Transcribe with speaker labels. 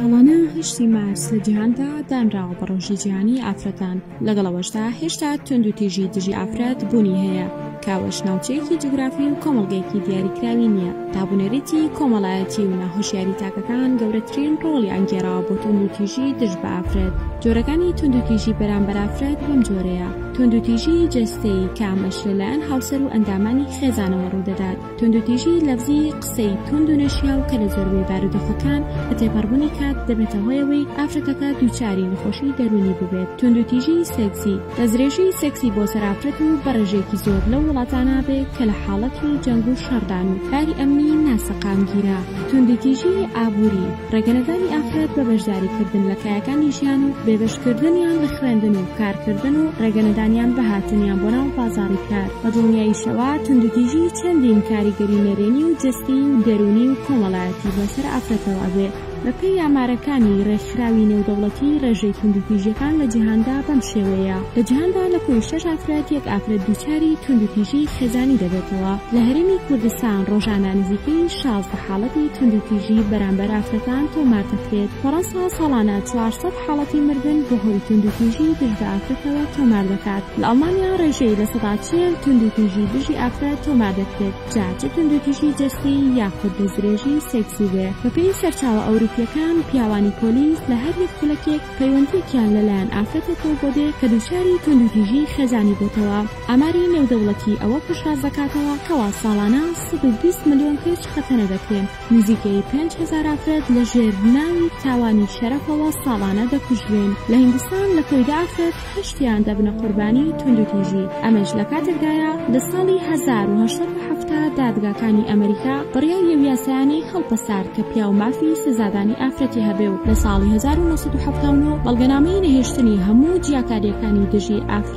Speaker 1: ساڵانە هەشتی مارس لە جیهاندا دانراوە بە ڕۆژی جیهانی ئافرەتان لەگەڵ ئەوەشدا هێشتا تونند و تیژی دژی ئافرەت بوونی هەیە کاوەش ناوچەیەکی جوگرافی و کۆمەڵگەیەکی دیاریکراوی نییە دابونەریتی کۆمەڵایەتی و ناهۆشیاری تاکەکان گەورەترین ڕۆڵی ئەنگێراوە بۆ تونند و تیژی دژ بە ئافرەت جۆرەکانی تونند و تیژی بەرامبەر ئافرەت بەم جۆرەیە تونند و تیژی جەستەیی کامەش لەلایەن هاوسەر و ئەندامانی خێزانەوە ڕوودەدات توندوتیژیی لەفزی، قسەی توند و نەشیاو کە لە زۆربەی بارودۆخەکان بە تێپەڕبوونی کات دەبێتە هۆی ئەوەی ئافرەتەکە دووچاری نەخۆشیی دەروونی ببێت. توندوتیژیی سێکسی، دەستدرێژیی سێکسی بۆ سەر ئافرەت و بە ڕێژەیەکی زۆر لەو وڵاتانە بێ کە لە حاڵەتی جەنگ و شەڕدان و باری ئەمنیی ناسەقامگیرە. توندوتیژیی ئابووری، ڕێگەنەدانی ئافرەت بە بەشداریکردن لە کایەکانی ژیان و بێبەشکردنیان لە خوێندن و کارکردن و ڕێگەنەدانیان بە هاتنیان بۆ ناو بازاڕی کار بە دڵنیاییشەوە توندوتیژی چەندین کاریگەری نەرێنی و جەستەی و دەروونی و کۆمەڵایەتی بۆ سەر ئافرەتەوە ئەبێ. بەپێی ئامارەکانی ڕێکخراوی نێودەوڵەتی ڕێژەی توندوتیژیەکان لە جیهاندا بەم شێوەیەیە، لە جیهاندا لە کۆی شەش ئافرەت یەک ئافرەت دووچاری توندوتیژیی خێزانی دەبێتەوە، لە هەرێمی کوردستان ڕۆژانە نزیکەی شازدە. حاڵەتی توندوتیژی بەرامبەر ئافرەتان تۆمار دەکرێت، فەرەنسا ساڵانە چوار سەد حاڵەتی مردن بەهۆی توندوتیژی دژ بە ئافرەتەوە تۆمار دەکات، لە ئەڵمانیا ڕێژەی لە سەدا چل توندوتیژی دژی ئافرەت تۆمار دەکرێت، جا چ توندوتیژی جەستیی یاخود دەستدرێژی سێکسی بێ. بەپێی سەرچاوە ئەوروپییەکان، پیاوانی پۆلیس لە هەر یەک خولەکێک پەیوەندییەکیان لەلایەن ئافرەتێکەوە بۆ دێ کە دووچاری توندوتیژیی خێزانی بۆتەوە. ئاماری نێودەوڵەتی ئەوە پشتڕاست دەکاتەوە کەوا ساڵانە سەد و بیست ملیۆن کچ خەتەنە دەکرێن، نزیکەی پێنج هەزار ئافرەت لە ژێر ناوی تاوانی شەرەفەوە ساڵانە دەکوژرێن، لە هیندستان لە کۆی دە ئافرەت هەشتیان دەبنە قوربانی توندوتیژی، ئەمەش لە کاتێکدایە لە ساڵی هەزار و هەشت سەد و حەفتا دادگاکانی ئەمریکا بڕیاری ئەو یاسایانەی هەڵپەسارد کە پیاو مافی سزادانی ئافرەتی هەبێ و لە ساڵی هەزار و نۆ سەد و حەفتا و نۆ بەڵگەنامەی نەهێشتنی هەموو جیاکارییەکانی دژی ئافرەت